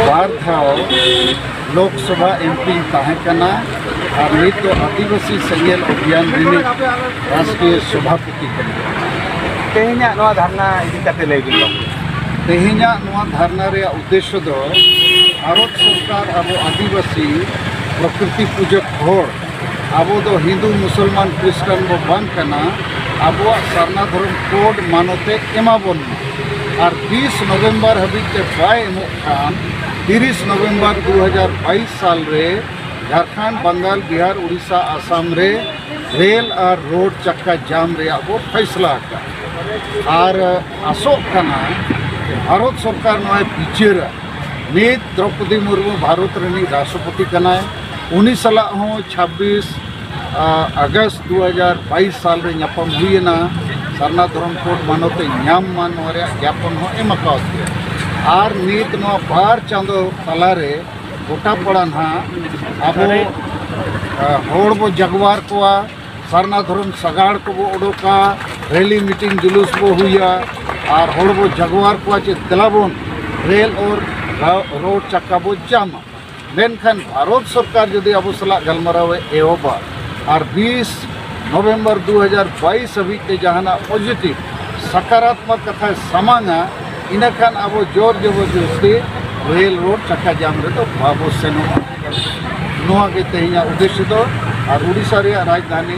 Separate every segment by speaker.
Speaker 1: ᱵᱟᱨ ᱫᱷᱟᱣ ᱞᱳᱠᱥᱚᱵᱷᱟ ᱮᱢᱯᱤ ᱛᱟᱦᱮᱸ ᱠᱟᱱᱟ ᱟᱨ ᱱᱤᱛ ᱫᱚ ᱟᱹᱫᱤᱵᱟᱹᱥᱤ ᱥᱮᱸᱜᱮᱞ ᱚᱵᱷᱤᱭᱟᱱ ᱨᱤᱱᱤᱡ ᱨᱟᱥᱴᱨᱤᱭᱚ ᱥᱚᱵᱷᱟᱯᱚᱛᱤ ᱠᱟᱱᱟ
Speaker 2: ᱛᱮᱦᱮᱧᱟᱜ ᱱᱚᱣᱟ ᱫᱷᱟᱨᱱᱟ ᱤᱫᱤ ᱠᱟᱛᱮ ᱞᱟᱹᱭ ᱵᱤᱱ ᱛᱮᱦᱮᱧᱟᱜ
Speaker 1: ᱱᱚᱣᱟ ᱫᱷᱟᱨᱱᱟ ᱨᱮᱭᱟᱜ ᱩᱫᱽᱫᱮᱥᱥᱚ ᱫᱚ ᱵᱷᱟᱨᱚᱛ ᱥᱚᱨᱠᱟᱨ ᱟᱵᱚ ᱟᱹᱫᱤᱵᱟᱹᱥᱤ ᱯᱨᱚᱠᱨᱤᱛᱤ ᱯᱩᱡᱟᱹ ᱦᱚᱲ ᱟᱵᱚ ᱫᱚ ᱦᱤᱱᱫᱩ ᱢᱩᱥᱚᱞᱢᱟᱱ ᱠᱨᱤᱥᱴᱟᱱ ᱵᱚ ᱵᱟᱝ ᱠᱟᱱᱟ ᱟᱵᱚᱣᱟᱜ ᱥᱟᱨᱱᱟ ᱫᱷᱚᱨᱚᱢ ᱠᱳᱰ ᱢᱟᱱᱚᱛᱮ ᱮᱢᱟ ᱵᱚᱱ ᱢᱟ ᱟᱨ ᱛᱤᱥ ᱱᱚᱵᱷᱮᱢᱵᱚᱨ ᱦᱟᱹᱵᱤᱡ ᱛᱮ ᱵᱟᱭ ᱮᱢᱚᱜ ᱠᱷᱟᱱ ᱛᱤᱨᱤᱥ ᱱᱚᱵᱷᱮᱢᱵᱚᱨ ᱫᱩ ᱦᱟᱡᱟᱨ ᱵᱟᱭᱤᱥ ᱥᱟᱞ ᱨᱮ ᱡᱷᱟᱨᱠᱷᱚᱸᱰ ᱵᱟᱝᱜᱟᱞ ᱵᱤᱦᱟᱨ ᱩᱲᱤᱥᱥᱟ ᱟᱥᱟᱢ ᱨᱮ ᱨᱮᱞ ᱟᱨ ᱨᱳᱰ ᱪᱟᱠᱟ ᱡᱟᱢ ᱨᱮᱭᱟᱜ ᱵᱚ ᱯᱷᱟᱭᱥᱞᱟ ᱟᱠᱟᱫᱼᱟ ᱟᱨ ᱟᱥᱚᱜ ᱠᱟᱱᱟ ᱵᱷᱟᱨᱚᱛ ᱥᱚᱨᱠᱟᱨ ᱱᱚᱣᱟᱭ ᱵᱤᱪᱟᱹᱨᱟ ᱱᱤᱛ ᱫᱨᱚᱯᱚᱫᱤ ᱢᱩᱨᱢᱩ ᱵᱷᱟᱨᱚᱛ ᱨᱤᱱᱤᱡ ᱨᱟᱥᱴᱨᱚᱯᱚᱛᱤ ᱠᱟᱱᱟᱭ ᱩᱱᱤ ᱥᱟᱞᱟᱜ ᱦᱚᱸ ᱪᱷᱟᱵᱵᱤᱥ ᱟᱜᱚᱥᱴ ᱫᱩ ᱦᱟᱡᱟᱨ ᱵᱟᱭᱤᱥ ᱥᱟᱞ ᱨᱮ ᱧᱟᱯᱟᱢ ᱦᱩᱭᱮᱱᱟ ᱥᱟᱨᱱᱟ ᱫᱷᱚᱨᱚᱢ ᱠᱳᱰ ᱢᱟᱱᱚᱛᱮ ᱧᱟᱢ ᱢᱟ ᱱᱚᱣᱟ ᱨᱮᱭᱟᱜ ᱡᱟᱯᱚᱱ ᱦᱚᱸ ᱮᱢ ᱟᱠᱟᱣᱟᱫ ᱜᱮᱭᱟ ᱟᱨ ᱱᱤᱛ ᱱᱚᱣᱟ ᱵᱟᱨ ᱪᱟᱸᱫᱚ ᱛᱟᱞᱟᱨᱮ ᱜᱚᱴᱟ ᱯᱟᱲᱟ ᱱᱟᱦᱟᱜ ᱟᱵᱚ ᱦᱚᱲ ᱵᱚ ᱡᱟᱜᱽᱣᱟᱨ ᱠᱚᱣᱟ ᱥᱟᱨᱱᱟ ᱫᱷᱚᱨᱚᱢ ᱥᱟᱜᱟᱲ ᱠᱚᱵᱚ ᱚᱰᱚᱠᱟ ᱨᱮᱞᱤ ᱢᱤᱴᱤᱝ ᱡᱩᱞᱩᱥ ᱵᱚ ᱦᱩᱭᱟ ᱟᱨ ᱦᱚᱲ ᱵᱚ ᱡᱟᱜᱽᱣᱟᱨ ᱠᱚᱣᱟ ᱪᱮ ᱫᱮᱞᱟ ᱵᱚᱱ ᱨᱮᱞ ᱚᱨ ᱨᱳᱰ ᱪᱟᱠᱟ ᱵᱚ ᱡᱟᱢᱟ ᱢᱮᱱᱠᱷᱟᱱ ᱵᱷᱟᱨᱚᱛ ᱥᱚᱨᱠᱟᱨ ᱡᱩᱫᱤ ᱟᱵᱚ ᱥᱟᱞᱟᱜ ᱜᱟᱞᱢᱟᱨᱟᱣ ᱮ ᱮᱦᱚᱵᱟ ᱟᱨ ᱵᱤᱥ ᱱᱚᱵᱷᱮᱢᱵᱚᱨ ᱫᱩ ᱦᱟᱡᱟᱨ ᱵᱟᱭᱤᱥ ᱦᱟᱹᱵᱤᱡ ᱛᱮ ᱡᱟᱦᱟᱱᱟᱜ ᱯᱚᱡᱤᱴᱤᱵᱽ ᱥᱟᱠᱟᱨᱟᱛᱢᱚᱠ ᱠᱟᱛᱷᱟᱭ ᱥᱟᱢᱟᱝᱟ ᱤᱱᱟᱹᱠᱷᱟᱱ ᱟᱵᱚ ᱡᱳᱨ ᱡᱚᱵᱚᱨᱡᱚᱥᱛᱤ ᱨᱮᱞ ᱨᱳᱰ ᱪᱟᱠᱟ ᱡᱟᱢ ᱨᱮᱫᱚ ᱵᱟᱵᱚ ᱥᱮᱱᱚᱜᱼᱟ ᱱᱚᱣᱟ ᱜᱮ ᱛᱮᱦᱮᱧᱟᱜ ᱩᱫᱽᱫᱮᱥᱥᱚ ᱫᱚ ᱟᱨ ᱩᱰᱤᱥᱥᱟ ᱨᱮᱭᱟᱜ ᱨᱟᱡᱽᱫᱷᱟᱱᱤ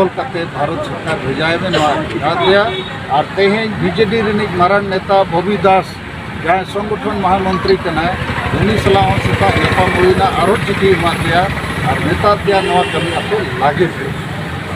Speaker 1: ᱚᱞ ᱠᱟᱛᱮ ᱵᱷᱟᱨᱚᱛ ᱥᱚᱨᱠᱟᱨ ᱵᱷᱮᱡᱟᱭ ᱢᱮ ᱱᱚᱣᱟ ᱜᱩᱡᱽᱨᱟᱴ ᱨᱮᱭᱟᱜ ᱟᱨ ᱛᱮᱦᱮᱧ ᱵᱤᱡᱮᱰᱤ ᱨᱤᱱᱤᱡ ᱢᱟᱨᱟᱝ ᱱᱮᱛᱟ ᱵᱚᱵᱤ ᱫᱟᱥ ᱡᱟᱦᱟᱸᱭ ᱥᱚᱝᱜᱚᱴᱷᱚᱱ ᱢᱚᱦᱟᱢᱚᱱᱛᱨᱤ ᱠᱟᱱᱟᱭ ᱩᱱᱤ ᱥᱟᱞᱟᱜ ᱦᱚᱸ ᱥᱮᱛᱟᱜ ᱧᱟᱯᱟᱢ ᱦᱩᱭᱱᱟ ᱟᱨᱚ ᱪᱤᱴᱷᱤ ᱮᱢᱟᱫ ᱫᱮᱭᱟ ᱟᱨ ᱢᱮᱛᱟᱫ ᱫᱮᱭᱟ ᱱᱚᱣᱟ ᱠᱟᱹᱢᱤ ᱟᱯᱮ ᱞᱟᱜᱮ ᱯᱮ